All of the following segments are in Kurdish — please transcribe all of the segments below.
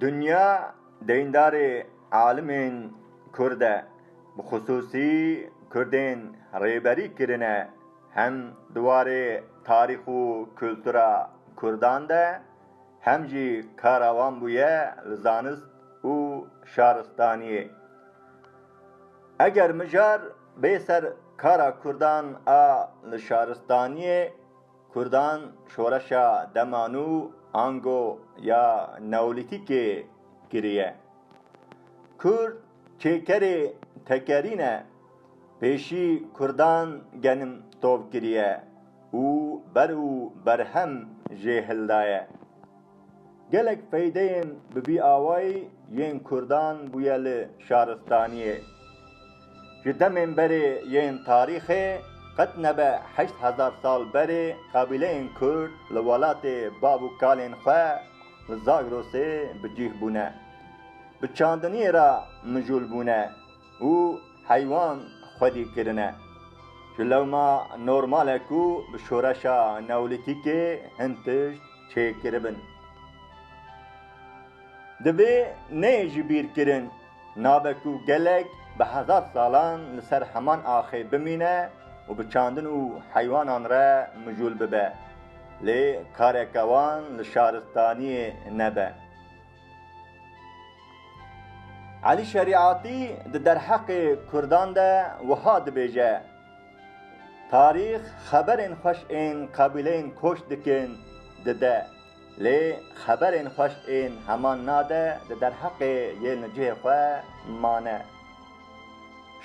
Dinya deyndarê alimên Kurd e, bi xisûsî Kurdên rêberî kirine hem di warê tarîx û kultura Kurdan de hem jî kara wan bûye li zanist û şaristaniyê. Eger mijar Bê ser kara Kurdan a li şaristaniyê, Kurdan şoreşa dema nû ango ya Neolîtîkê kiriye. Kurd çêkerê tekerî ne, pêşî Kurdan genim tov kiriye û ber û berhem jê hildaye. Gelek feydeyên bi vî awayî yên kurdan bûye li şaristaniyê. Ji demên berê yên tarîxê qet nebe heşt hezar sal berê qabîleyên kurd li welatê bav û kalên xwe li Zagrosê bi cîh bûne. Bi çandiniyê re mijûl bûne. û heywan xwedî kirine. Ji lewma normal e ku bi şoreşa neolîtîkê hin tişt çêkiribin. Divê neyê ji bîr kirin, nabe ku gelek bi hezar salan li ser heman axê bimîne û bi çandin û heywanan re mijûl bibe. Lê kareke wan li şaristaniyê nebe. Elî Şerîatî di derheqê Kurdan de wiha dibêje, Tarîx xeberên xweş ên qabîleyên koç dikin dide, lê xeberên xweş ên heman nade di derheqê yên li cihê xwe mane.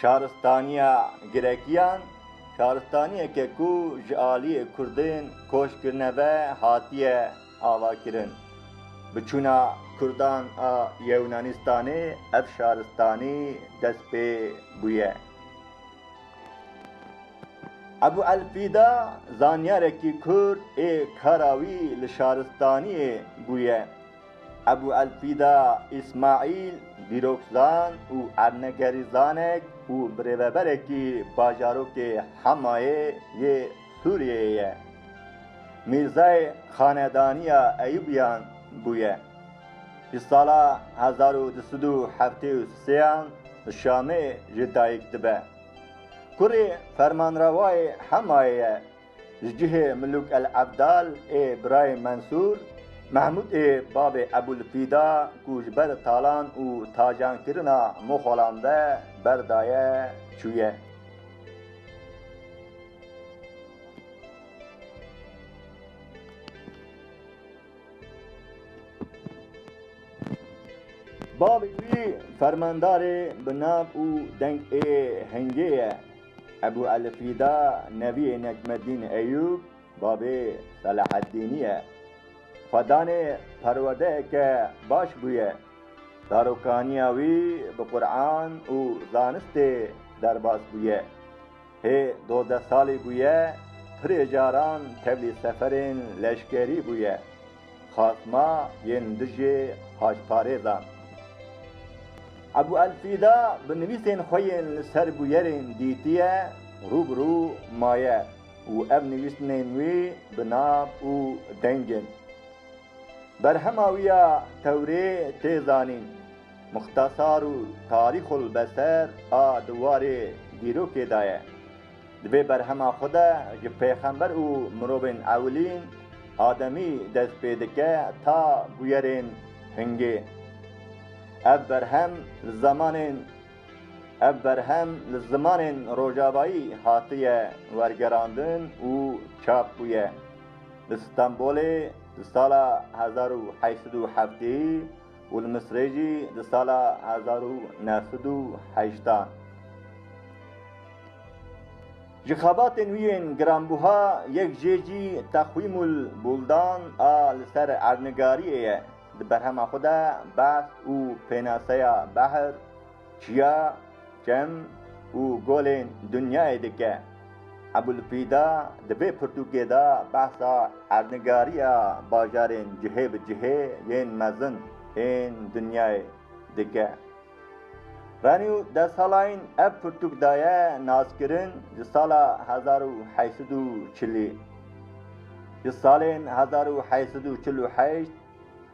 Şaristaniya Girekiyan, şaristaniyeke ku ji aliyê Kurdên koç kirine ve hatiye avakirin. Bi çûna Kurdan a Yewnanîstanê ev şaristanî dest pê bûye. Ebû Elfîda zanyarekî Kurd ê kara wî li şaristaniyê bûye. Ebû Elfîda Îsmaîl dîrokzan û ernegerîzanek û birêveberekî bajarokê Hemayê yê Sûriyeyê ye. Mîrzayê xanedaniya Eyûbiyan bûye. Di sala hezar û du sed û heftê û sêan li Şamê jê dayik dibe. Kurê fermanrawayê Hemayê ye. Ji cihê Milûk El Ebdal ê birayê Mensûr, Mehmûd ê bavê Ebûl Fîda ku ji ber talan û tajankirina moxalan ve berdaye, çûye. Bavê wî fermandarê bi nav û deng ê Hingê ye. Ebû Elfrîda neviyê Necmeddîn Eyûb, bavê Selaheddînî ye. Xwedanê perwerdeyeke baş bûye. Zarokaniya wî bi Quran û zanistê derbas bûye. Hê dozdeh salî bûye pirê caran tevlî seferên leşkerî bûye xasma yên dijî haşparêzan. Ebû El Fîda bi nivîsên xwe yên li ser bûyerên dîtiye rû bi rû maye û ev nivîsnên wî bi nav û deng in. Berhema wî ya tewrê tê zanîn. Muxtesar û tarîxulbeser a di warê dîrokê de ye. Di vê berhema xwe de ji pêxember û mirovên ewilîn, ademî, dest pê dike ta bûyerên hingê. Ev berhem li zemanên Ev berhem li zimanên rojavayî hatiye wergerandin û çap bûye. Li Stenbolê di sala hezar û heşt sed û heftê û li Misrê jî di sala hezar û neh sed û heşta ji xebatên wî yên giranbûha yek jê jî Teqwîmul Bûldan a li ser erdnigariyê ye. Di berhema xwe de behs û pênaseya behr, Çiya çem û golên dinyayê dike. Ebûlfîda di vê pirtûkê de behsa erdnigariya bajarên cihê bi cihê yên mezin ên dinyayê dike. Venî û deh salayîn ev pirtûk daye naskirin ji sala hezar û heşt sed û çilî. Ji salên hezar û heşt sed û çil û heşt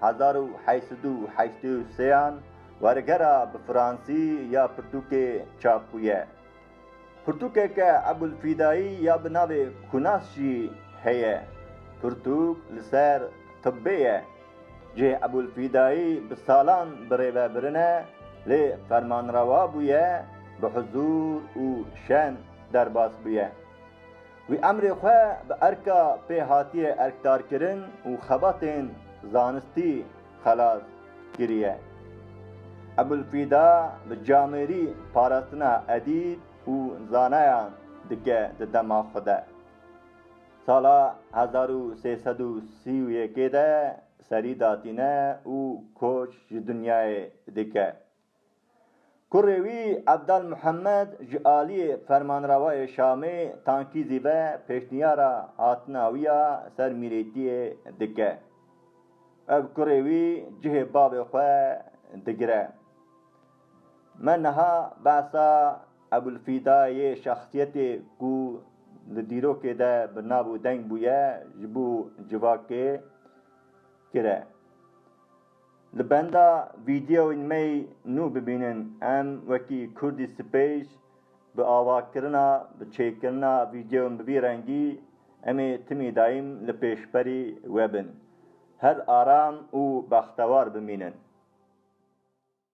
Hezar û heşt sed û heştê û sêan wergera bi fransî ya pirtûkê çap bûye. Pirtûkeke Ebûlfîdayî ya bi navê Kunas jî heye. Pirtûk li ser tibbê ye. Cih Ebûlfîdayî bi salan bi rêve birine lê fermanrewa bûye, bi huzûr û şen derbas bûye. Wî emrê xwe bi erka pêhatiyê erkdarkirin û xebatên zanistî xelas kiriye. Ebûlfîda bi camêrî parastina edîb û zanayan dike di dema xwe de. Sala hezar û sê sed û sî û yekê de serî datîne û koç ji dinyayê dike. Kurê wî Ebdal Muhemed ji aliyê Fermanrawayê Şamê Tankî Zîve pêşniyara hatina wî ya ser mîrêtiyê dike. Ev kurê wî cihê bavê xwe digire. Me niha behsa Ebûlfîda yê şexsiyetê ku li dîrokê de bi nav û deng bûye ji bo civakê kire. Li benda vîdeoyên me yî nû bibînin em wekî Kurdî Space bi avakirina bi çêkirina vîdeoyan bi vî rengî em ê timî daîm li pêşberî we bin. Her aram û bextewar bimînin.